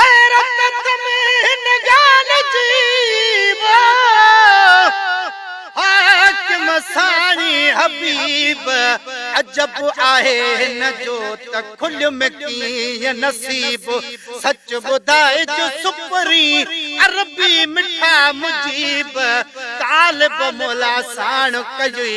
حيرت ۾ هن ڳالهه جي ويو، حاڪم ساڻي حبيب عجب آهي هن جو ته کليو ۾ ڪيئن نصيب سچ ٻڌائج سپرين عربي مٺا مجيب طالب مولا ساڻ ڪيئي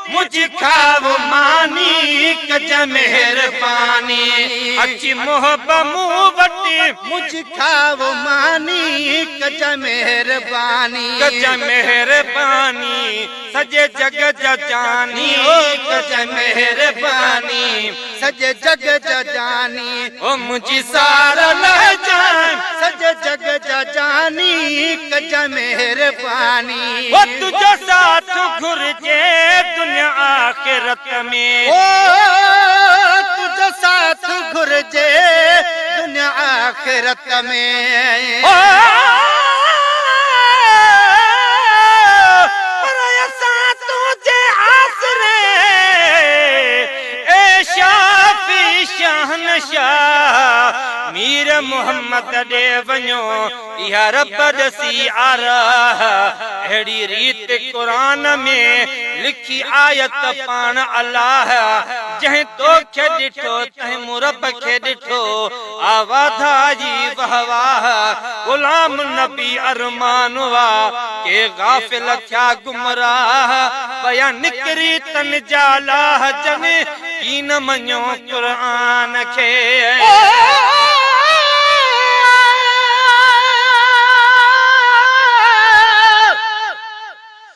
مجھ کائو ماني ڪج مهرباني اچي محب مون وٽ. مجھ کائو ماني ڪج مهرباني. ڪج مهرباني سڄي جڳ جا جاني. ڪج مهرباني. سڄي جڳ جا جاني هو منهنجي سار لهجان سڄي جڳ جا جاني ڪجان مهرباني هو تنهنجو ساٿ گهرجي دنيا آخرت ۾ هو تنهنجو ساٿ گهرجي دنيا آخرت ۾ هو پر اسان تنهنجي آسري اي شافعي شهنشاهه مير محمد ڏي وڃو اها رب ڏسي آ راهه اهڙي ريت قرآن ۾ لکي آيت پاڻ الله جنهن توکي ڏٺو تنهن مون رب کي ڏٺو آ واڌائي واه واه غلام نبي ارمان وا ڪي غافل ٿيا گمراه پيا نڪري تن جا لاه جن ڪين مڃيو قرآن کي.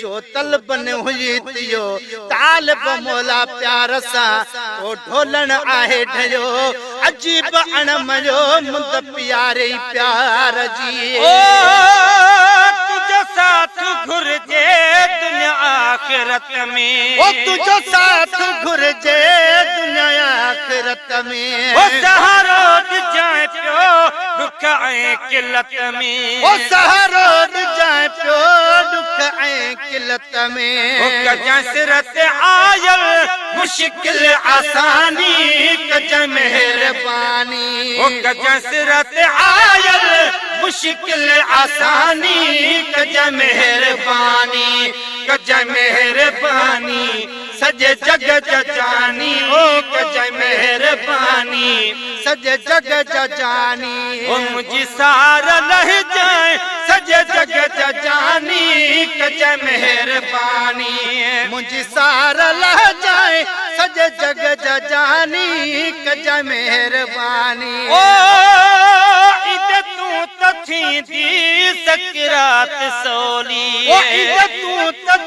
جو طلب نه هجي ٿيو طالب مولا پيار سان ڪو ڍولڻ آهي ڍيو عجيب اڻ مڃيو مند پياري پيار جي او تنهنجو ساٿ گهرجي دنيا آخرت ۾ او تنهنجو ساٿ گهرجي دنيا آخرت ۾. هو سهارو ڏجانء پيو ڏک ۽ قلت ۾. هو سهارو ڏجانء پيو ڏک ۽ قلت ۾. هو ڪجانء سر تي آيل مشڪل آساني ڪجانء مهرباني. هو ڪجانء سر تي آيل مشڪل آساني ڪجانء مهرباني ڪجانء مهرباني. سڄي جڳ جا جاني او ڪجانء مهرباني سڄي جڳ جا جاني او منهنجي سار لهجانء سڄي جڳ جا جاني ڪجانء مهرباني منهنجي سار لهجانء سڄي جڳ جا جاني ڪجانء مهرباني او عيد تون ته ٿيندي سڪرات سولي او عيد تون ته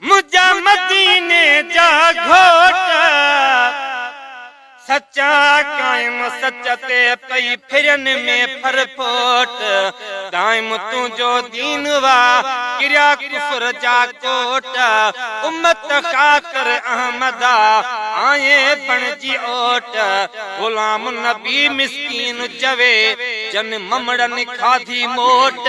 منهنجا مديني جا گهوٽ، سچا قائم سچ تي پئي ڦرين ۾ ڦر ڦوٽ، دائم تنهنجو دين وا ڪريا ڪفر جا ڪوٽ، امت خاطر احمدا آئين بڻجي اوٽ، غلام نبي مسڪين چوي جن ممڙن کاڌي موٽ.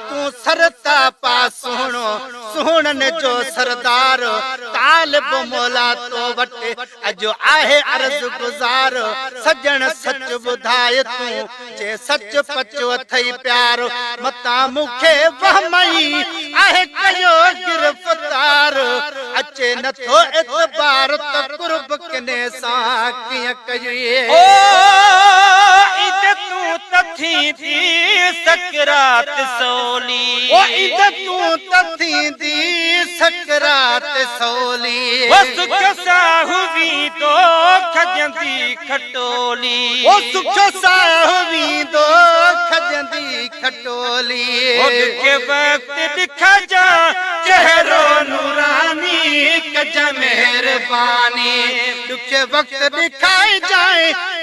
تون سر تان پاء سهڻو، سهڻن جو سردار، طالب مولا تو وٽ اڄ آهي عرض گذار، سڄڻ سچ ٻڌاء تون، چي سچ پچ اٿئي پيار، متان مون کي وهم ئي آهي ڪيو گرفتار، اچي نٿو اعتبار ته قرب ڪنھن سان ڪيئن ڪجي. او عيد تون ته ٿيندي سڪرات سولي. او ايندء تون ته ٿيندي سڪرات سولي. او سک ساهه ويندو کڄندي کٽولي. او سک ساهه ويندو کڄندي کٽولي. او ڏکئي وقت ڏکجان چهرو نوراني ڪجان مهرباني. ڏکئي وقت ڏکجان.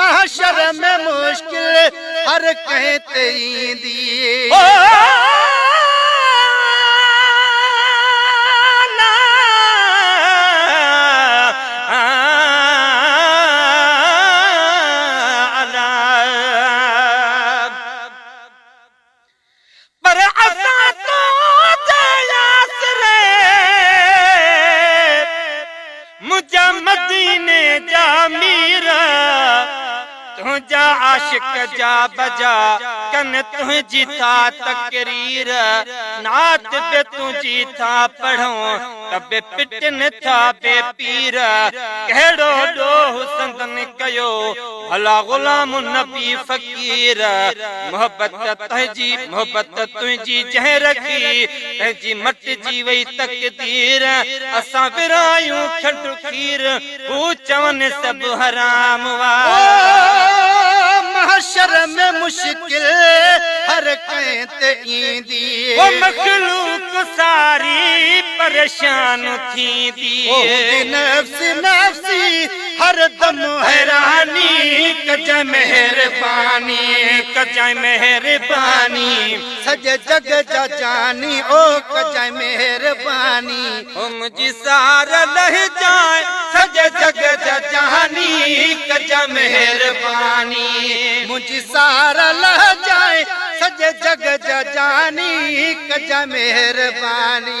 محشر ۾ مشڪل هر ڪنهن تي ايندي هو پر اسان تنهنجي آسري منهنجا مديني جا مير تنهنجا عاشق جا بجا ڪن تنهنجي ٿا تقرير نعت به تنهنجي ٿا پڙهون ته به پٽن ٿا بي پير ڪهڙو ڏوهه سندن ڪيو الا غلام نبي فقير محبت تنهنجي محبت تنهنجي جنهن رکي تنهنجي مٽجي وئي تقدير اسان ورهايون کنڊ کير هو چون سڀ حرام وار. محشر ۾ مشڪل هر ڪنهن تي ايندي. هو مخلوق ساري پريشان ٿيندي. هوندي نفسي نفسي. هر دم حيراني ڪجانء مهرباني ڪجانء مهرباني سڄي جڳ جا جاني او ڪجانء مهرباني هو منهنجي سار لهجانء سڄي جڳ جا جاني ڪجانء مهرباني منهنجي سار لهجانء سڄي جڳ جا جاني ڪجانء مهرباني.